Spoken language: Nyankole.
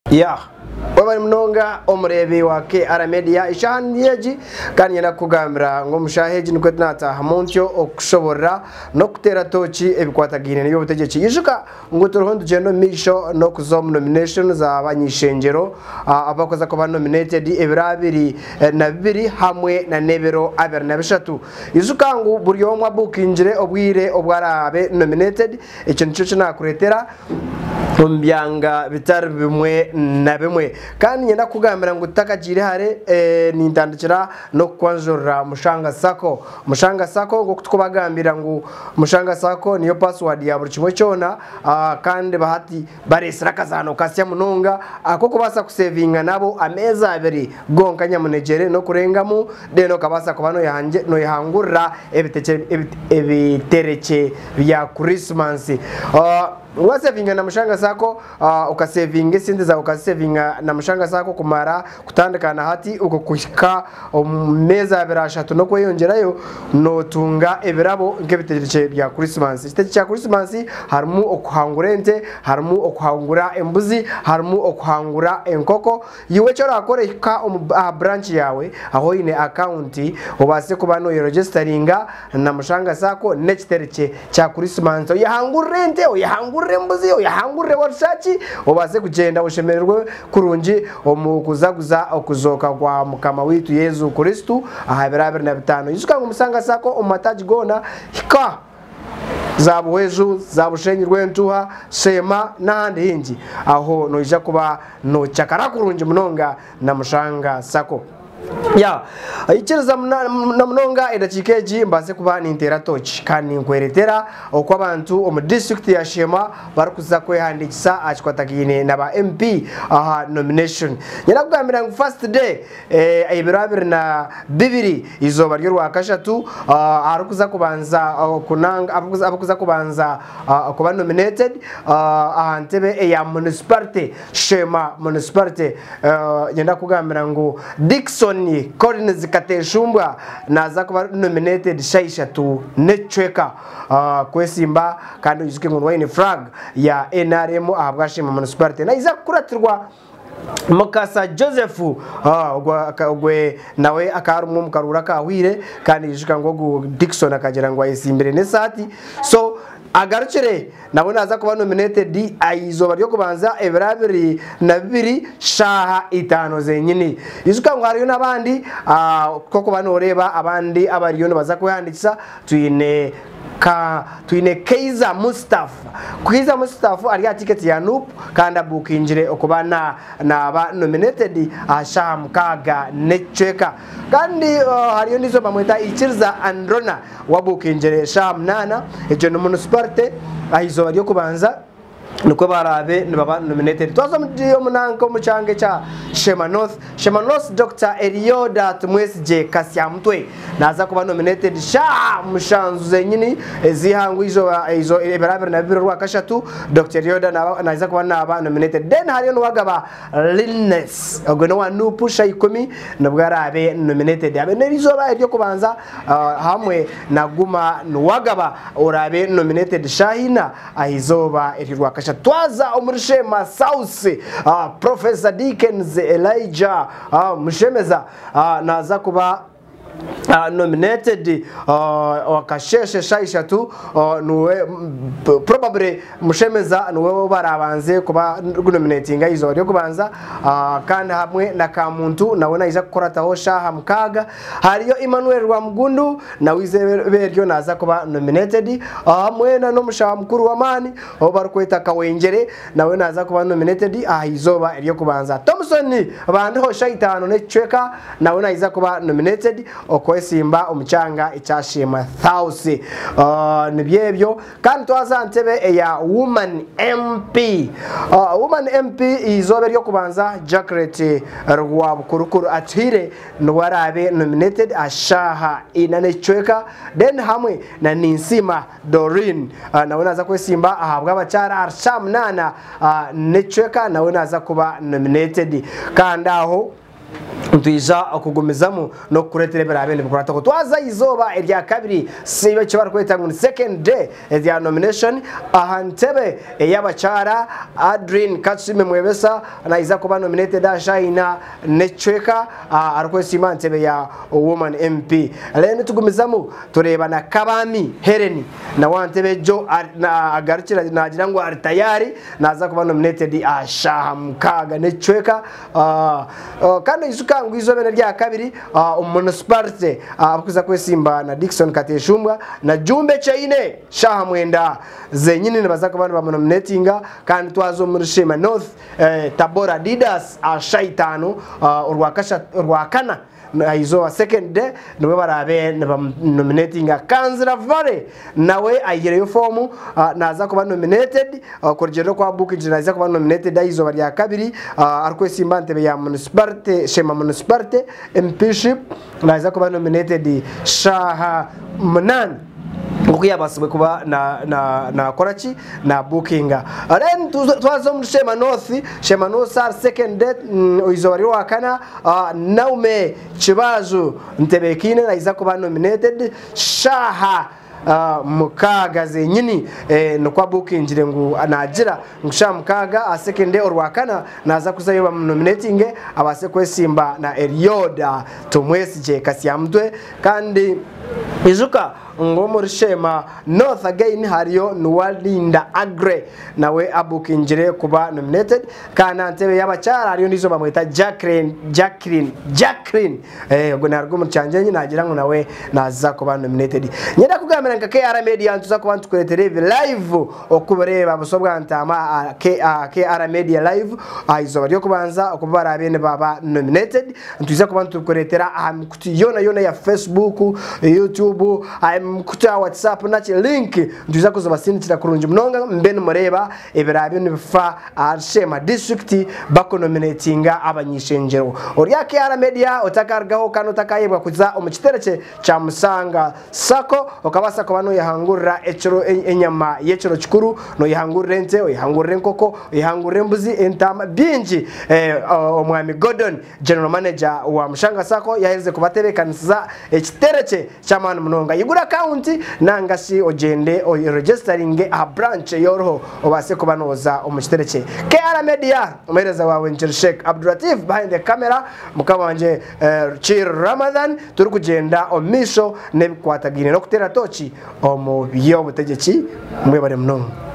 Yah. Webale munonga omureebi wa KR Media. Eshaaha niyo egi kandi nyenda kukugambira ngu omu shaaha egi nikwo tunaataahamu ntyo okukushoborora n'okukuteera tooki ebikwatagaine n'eby'obutegyeki. Ijuka ngu turiho nitugyenda omu maisho n'okuza omu nomination za bany'eishengyero abakuza kuba nominated ebiro abiri na bibiri hamwe na n'ebiro abiri na bishatu. Ijuka ngu buri omwe abuukingire obwire obu araabe nominated Ekyo nikyo ki naakureetera omu byanga bitari bimwe na bimwe. Kandi niinyenda kukugambira ngu tutakagiire hare, eh, nintandikira n'okukwanjurira Mushanga Sacco. Mushanga Sacco, nk'oku turikubagambira ngu Mushanga Sacco niyo password ya buri kimwe kyona, ah, kandi bahati, Bareetsire akazaano kasya munonga ak'okubaasa kuseevinga nabo ameezi abiri gonka nyamunegyere n'okurengamu then okabaasa kuba noyehangurira ebiterekye bya Kurisimasi. Waseevinga na Mushanga Sacco, okaseevinga esente zaawe okaziseevinga na Mushanga Sacco kumara Kutandika na hati okuhika omu meezi abiri ashatu n'okweyongyerayo, nootunga ebirabo nk'ebiteekyekye bya Kurisimansi. Ekiteekyekye kya Kurisimansi harimu okuhangura ente, harimu okuhangura embuzi, harimu okuhangura enkoko. Iwe eki oraakore hika aha buranki yaawe ahu oine akawunti obaase kuba nooyerogyesitaringa Na mushanga zaako n'ekiteri kye kya Kurisimansi. Oyehangurire ente, oyehangurire embuzi, oyehangurire warushya ki, obaase kugyenda oshemererwe kurungi omu kuzaguza okuzooka kwa Mukama waitu Yesu Kristo aha biro abiri na bitaano. Ijuka ngu mushanga zaako omu mataagi goona, hika za Buhweju, za Bushenyi Rwentuha, Sheema n'ahandi haingi. Aho noija kuba noocakara kurungi munonga na mushanga zaako. Ya, ikiriza na munonga edakiika egi mbaase kuba ninteera tooki kandi ninkweretera oku abantu omu disiturikiti ya Sheema barikuza kwehandiikisa aha kikwatagaine na ba MP aha nomination. Nyenda kugambira ngu first day, eh, ebiro abiri na bibiri, eizooba ry'orwakashatu, ah, aharikuza kubanza kunanga, abarikuza kubanza kuba nominated, ah, aha ntebe eya munisiparite. Sheema Municipality, Niinyenda kukugambira ngu Dickson Collins Kateshumbwa naaza kuba ari nominated shaaha ishatu n'ekicweka kwesimba kandi oijuke ngu niwe aine flag ya nrm ahabwa Sheema Municipality. Naiza kukuratirwa Mukasa Joseph ogwe nawe akaba arimwo omu karuuru akaahweire kandi oijuka ngu ogu Dickson akagira ngu ayesimbire n'esaati so agarukire Nabwo naaza kuba nominated aha izooba ry'okubanza ebiro biri na bibiri shaaha itaano zenyini. Ijuka ngu hariyo n'abandi ah, k'okuba nooreeba abandi abariyo nibaza kwehandiikisa twine ka twine Kaiza Mustaf. Kaiza Mustaf ari aha ticket ya Nup kandi abuukingire okuba na naaba nominated aha shaaha mukaaga n'ekicweka. Kandi oh, hariyo ondiijo nibamweta Ikiriza Androna. Wabuukingyire eshaaha munaana, egyo ni munisiparite, aha izooba ry'okubanza nikwo baraabe nibaba nominated. Twaza omu di- omu nanka omu kyanga ekya Shema North. Shema North Dr Elioda Tumwesigye Kasyamutwe naaza kuba nominated shaaha mushanju zenyini ez'eihanga omu izooba eizo- ebiro abiri na bibiri orwakashatu Dr Elioda naaba naija kuba naaba nominated. Then hariyo Nuwagaba Linnes ogwo n'owa Nup sha ikumi nibwo araabe nominated abe n'erizooba ery'okubanza hamwe na Guma Nuwagaba oraabe nominated shaaha ina aha izooba ery'orwakashatu. Twaza omuri Sheema South, Professor Dickens Elijah Mushemeza naaza kuba nominated wakasheeshe shaaha ishatu niwe probably mushemeza niwe baraabanze kuba nominatinga aha izooba ry'okubanza kandi hamwe na kamuntu nawe naija kukurataho shaaha mukaaga hariyo Emmanuel Rwamugundu nawe izooba eryo naaza kuba nominated hamwe n'omushaho mukuru w'amaani ou barikweta Kawengyere nawe naaza kuba nominated aha izooba ery'okubanza Tomson Bandiho shaaha itaano n'ekicweka Nawe naiza kuba nominated okwesimba omu kyanga ekyashiimwa Thausi. Ooh nibyo ebyo. Kandi twaza aha ntebe eya Woman MP. Ooh Woman MP eizooba ery'okubanza Jackret Rwabukurukuru atuhire niwe araabe nominated aha shaaha ina n'ekicweka then hamwe na Ninsiima Doreen nawe naaza kwesimba ahabw'abakyara ahari shaaha munaana n'ekicweka nawe naaza kuba nominated. Kandi aho. Nitwija kugumizamu n'okukureetera ebiraabe nibikukwataho. Twaza aha izooba erya kabiri, si eki barikweta ngu ni second day, erya nomination aha ntebe ey'abakyara. Adrine Katusime Mwebesa naija kuba nominated aha shaina n'ekicweka arikwesiima aha ntebe ya Woman MP. Reero nitugumizamu tureeba na Kabaami Hellen nawe aha ntebe egyo agarukire naagira ngu ari tayaari naaza kuba nominated aha shaaha mukaaga n'ekicweka. Kandi oijuka ngu eizooba erya kabiri omu munisiparite abikuza kwesimba na Dickson Kateshumbwa na Jumba Ekyeine shaaha mwenda zenyini nibaza kuba nibamunominetinga kandi twaza omuri Sheema North Tabora Adidas aha shaaha itaano orwakana. aha izooba second day nibwo baraabe nibamunominatinga kanzira vale nawe aihireyo foomu ah, naaza kuba nominated ah, kurugyirira oku abuukigire naaza kuba nominated aha izooba rya kabiri ah, arikwesimba aha ntebe ya municipality shema municipality empship naaza kuba nominated shaaha munaana nk'oku yaabaasibwe kuba naakora ki naabuukinga then twaza omuri sheema north sheema north sar second date mm, oizooba ry'owakana ah, naume kibaaju ntebeekaine naiza kuba nominated shaaha ah, mukaaga zenyini eh, nikwo abuukingire ngu naagira Ngu sha mukaaga aha sekende orwakana naaza kuzayo bamunominetinge abaase kwesimba na Elioda Tumwesigye Kasyamutwe kandi ijuka ngu omuri Sheema North again hariyo Nuwa Linda Aggrey nawe abukingire kuba nominated kandi aha ntebe y'abakyara hariyo ondiijo bamweta Jacqueline Jacqueline Jacqueline Eh, ogwo naruga omuri kyanjenye nagira ngu nawe naza kuba nominated. Nyenda kugambira nka KR Media nituza kuba nitukuretera ebi live okubireeba busa obwa ntaama aha KR Media live aha izooba ry'okubanza oku baraabe nibaba nominated. Nitwiza kuba nitukuretera aha mikutu yoona yoona ya Facebook, YouTube, aha mikutu ya WhatsApp naki link nitwiza kuzibasindikira kurungi munonga mube nimureeba ebiraabyo nibifa ahari sheema disiturikiti bakunominetinga abany'ishengyero. Ori aha KR Media otakarugaho kandi otakaayebwa kuza omu kitebe kye kya Musanga Sacco, okabaasa kuba noyehangurira ekiro enyama y'ekiro kikuru, noyehangurira ente, oyehangurira enkoko, oyehangurira embuzi, entaama, bingi omwami Gordon. General Manager wa Mushanga Sacco yaherize kubatebeekanisiza ekiterekye ky'amaani munonga. Yigura akaunti nanga shi ogyende oyeregestaringe aha branch ei oriho obaase kuba nooza omu kiterekye. KR Media, Omuheereza waawe Engineer Sheikh Abdulatif behind the camera, Mukama wangye Rukiir Ramadhan, turikugyenda omu maisho n'ebikwatagaine n'okuteera tooki omu by'obutegyeki. Mwebare munonga.